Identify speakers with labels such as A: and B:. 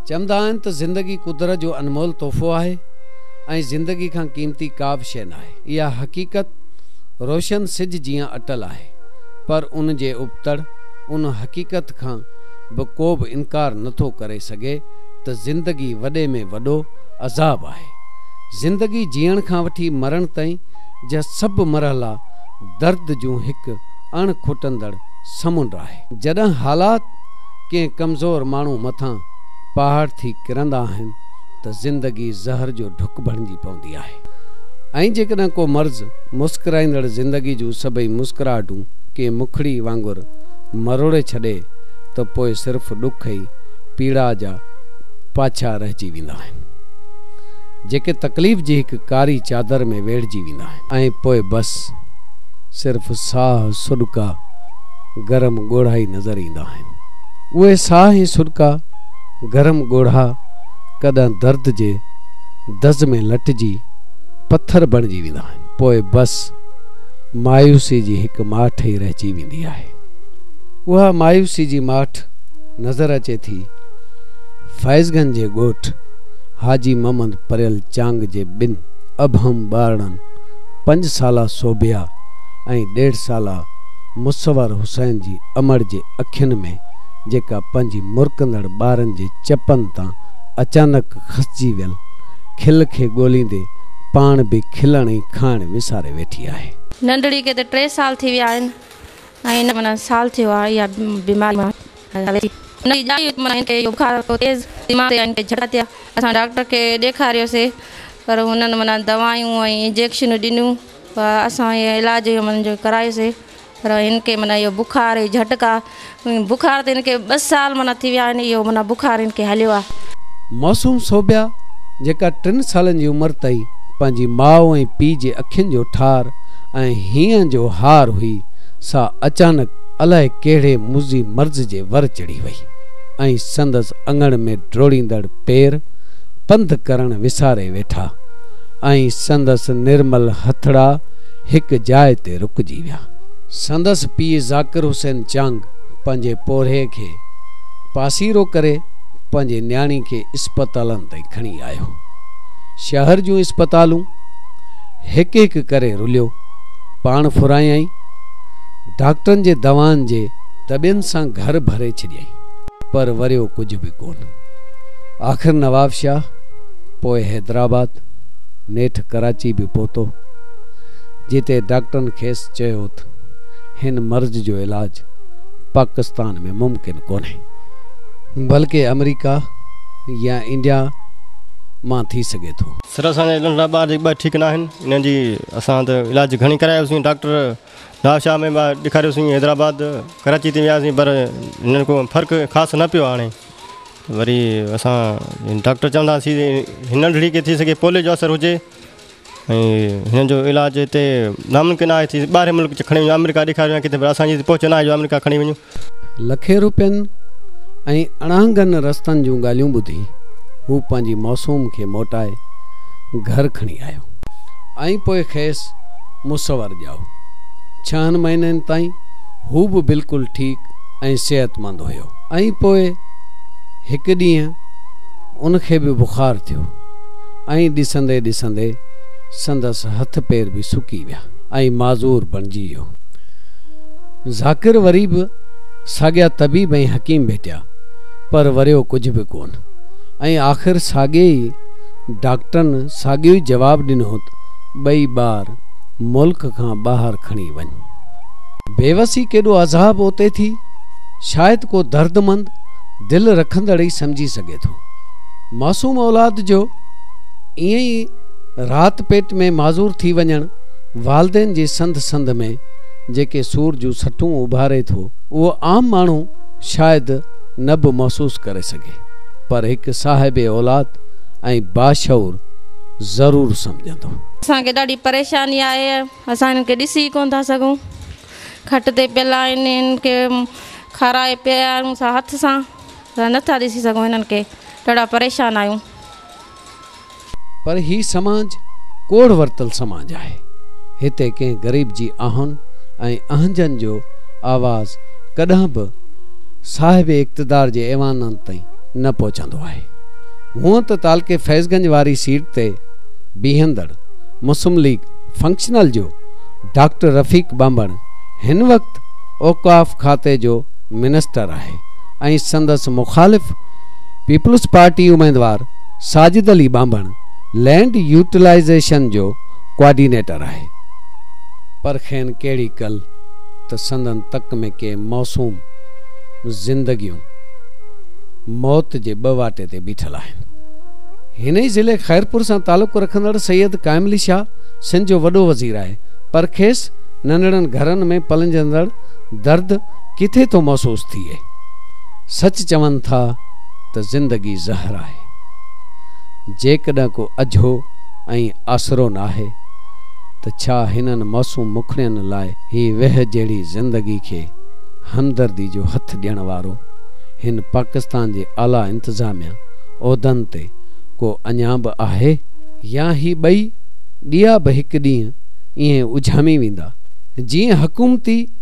A: چوندا آهن ته زندگي قدرت جو انمول تحفو آهي ۽ زندگي کان قيمتي ڪابه شيء ناهي. اها حقيقت روشن سج جيان اٽل آهي، پر ان جي ابتڙ ان حقيقت کان به ڪوبه انڪار نٿو ڪري سگهي ته زندگي وڏي ۾ وڏو عذاب آهي. زندگي جيئڻ کان وٺي مرڻ تائين جا سڀ مرحلا درد جون هڪ اڻ کٽندڙ سمنڊ آهي. جڏهن حالات ڪنهن ڪمزور ماڻهو مٿان پهاڙ ٿي ڪرندا آهن ته زندگي زهر جو ڍڪ بڻجي پوندي آهي ۽ جيڪڏهن ڪو مرض مسڪرائيندڙ زندگي جون سڀئي مسڪراهٽون ڪنهن مکڙي وانگر مروڙي ڇڏي ته پوء صرف ڏک ۽ پيڙاء جا پاڇا رهجي ويندا آهن جيڪي تڪليف جي هڪ ڪاري چادر ۾ ويڙهجي ويندا آهن ۽ پوء بس صرف ساهه سڏڪا گرم ڳوڙها ئي نظر ايندا آهن. آهن. اهي ساهه ۽ سرڪا گرم ڳوڙها ڪڏهن درد جي دز ۾ لٽجي پٿر بڻجي ويندا آهن. پوء بس مايوسي جي هڪ ماٺ ئي رهجي ويندي آهي. اها مايوسي جي ماٺ نظر اچي ٿي فائزگن جي ڳوٺ حاجي محمد پريل چانگ جي ٻن ابهم ٻارڙن پنج سالا صوبيا ۽ ڏيڍ سالا مصور حسين جي امڙ جي اکين ۾ جيڪا پنهنجي مرڪندڙ ٻارن جي چپن تان اچانڪ کسجي ويل کل کي ڳوليندي پاڻ به کلڻ ۽ کائڻ وساري ويٺي آهي. ننڍڙي کي ته ٽي
B: سال ٿي ويا آهن ۽ هن کي سال ٿيو آهي اها بيماري مان هلي ٿي. هن جي ڄائي هئي ته هن کي اهو بخار هو تيز دماغ تي هن کي جهٽڪا ٿيا. اسان ڊاڪٽر کي ڏيکاريوسي پر هنن دوائون ۽ انجيڪشنون ڏنيون پر اسان اهي علاج جو ڪرايوسي پر هن کي معنيٰ اهو بخار اهي جهٽڪا بخار تي هن کي ٻه سال معنيٰ ٿي ويا آهن اهو معنيٰ بخار هن کي هليو آهي. معصوم صوبيا
A: جيڪا ٽن سالن جي عمر تائين پنهنجي ماء ۽ پيء جي اکين جو ٺار ۽ هينئن جو هار هئي سا اچانڪ الائي ڪهڙي مضي مرض جي ور چڙهي وئي ۽ سندس اڱڻ ۾ ڊوڙيندڙ پير پنڌ ڪرڻ وساري ويٺا ۽ سندس نرمل هٿڙا هڪ جاء تي رڪجي ويا. سندس پيء ذاڪر حسين چانگ پنهنجي پورهيي کي پاسيرو ڪري پنهنجي نياڻي کي اسپتالن تائين کڻي آيو. شهر جون اسپتالون هڪ هڪ ڪري رليو، پاڻ ڦرايائين، ڊاڪٽرن جي دوائن جي دٻين سان گهر ڀري ڇڏيائين، پر وريو ڪجهه به ڪونه. آخر نوابشاهه، پوء حيدرآباد، نيٺ ڪراچي به پهتو. جتي ڊاڪٽرن کيس چيو تھ ھن مرض جو علاج پاڪستان ۾ ممڪن ڪونھي بلڪ آمريڪا يا انڊيا مان ٿي سگھي ٿو. سر اسان جا ننڍڙا
C: ٻار جي ٻھ ٺيڪ ناھن انھن جي اسان تھ علاج گھڻي ڪرايو سين ڊاڪٽر نواب شاھ ۾ ٻار ڏيکاريو سين حيدرآباد ڪراچي تائين ويا سين پر ھنن ڪو فرق خاص نھ پيو آڻي وري اسان ڊاڪٽر چوندا سين ھن ننڍڙي کي ٿي سگھي پوليو جو اثر ھجي. ۽ هن جو علاج هتي ناممڪن آهي ته ٻاهرين ملڪ کڻي وڃون آمريڪا ڏيکاريون يا ڪٿي پر اسان جي هتي پهچ ناهي جو آمريڪا کڻي وڃون. لکين روپين
A: ۽ اڻانگن رستن جون ڳالهيون ٻڌي هو پنهنجي معصوم کي موٽائي گهر کڻي آيو ۽ پوء کيس مصور ڄائو. ڇهن مهينن تائين هو به بلڪل ٺيڪ ۽ صحتمند هيو. ۽ پوء هڪ ڏينهن ان کي به بخار ٿيو. ائين ڏسندي ڏسندي سندس هٿ پير به سڪي ويا ۽ معذور بڻجي ويو. ذاڪر وري به ساڳيا طبيب ۽ حڪيم ڀيٽيا، پر وريو ڪجهه به ڪونه ۽ آخر ساڳي ئي ڊاڪٽرن ساڳيو ئي جواب ڏنو ته ٻئي ٻار ملڪ کان ٻاهر کڻي وڃ. بيوسي ڪيڏو عذاب اوتي ٿي، شايد ڪو دردمند دل رکندڙ ئي سمجهي سگهي ٿو. معصوم اولاد جو ائين ئي رات پيٽ ۾ معذور ٿي وڃڻ والدين جي سنڌ سنڌ ۾ جيڪي سور جون سٽون اڀاري ٿو اهو عام ماڻهو شايد نه به محسوس ڪري سگهي پر هڪ صاحب اولاد ۽ باشعور ضرور سمجهندو. اسان کي ڏاڍي
B: پريشاني آهي اسان هنن کي ڏسي ئي ڪونه ٿا سگهون کٽ تي پيل آهن هنن کي کارائي پيارون سان هٿ سان ته نه ٿا ڏسي سگهون
A: هنن کي ڏاڍا پريشان آهيون. پر هي سماج ڪوڙ ورتل سماج آهي هتي ڪنهن غريب جي آهن ۽ اهنجن جو آواز ڪڏهن به صاحب اقتدار جي ايوانن تائين نه پهچندو آهي هونئن ته تعلقي فيض گنج واري سيٽ تي بيهندڙ مسم ليگ فنڪشنل جو ڊاڪٽر رفيق ٻانڀڻ هن وقت اوقاف کاتي جو منسٽر آهي ۽ سندس مخالف پيپلز پارٽي اميدوار ساجد علي ٻانڀڻ لينڊ يوٽيلائيزيشن جو ڪوآرڊينيٽر آهي پر کين ڪهڙي ڪل ته سندن تڪ ۾ ڪي موسوم زندگيون موت جي ٻه واٽي تي بيٺل آهن هن ئي ضلعي خيرپور سان تعلق رکندڙ سيد قائم علي شاهه سنڌ جو وڏو وزير آهي پر کيس ننڍڙن گهرن ۾ پلنجندڙ درد ڪٿي ٿو محسوس ٿئي. سچ چون ٿا ته زندگي زهر آهي. جيڪڏهن ڪو اجهو ۽ آسرو ناهي ته ڇا هنن معصوم مکڙين لاء هي ويهه جهڙي زندگي کي همدردي جو هٿ ڏيڻ وارو هن پاڪستان جي اعليٰ انتظاميا عهدن تي ڪو اڃا به آهي؟ يا هي ٻئي ڏيئا به هڪ ڏينهن ائين اجهامي ويندا جيئن حڪومتي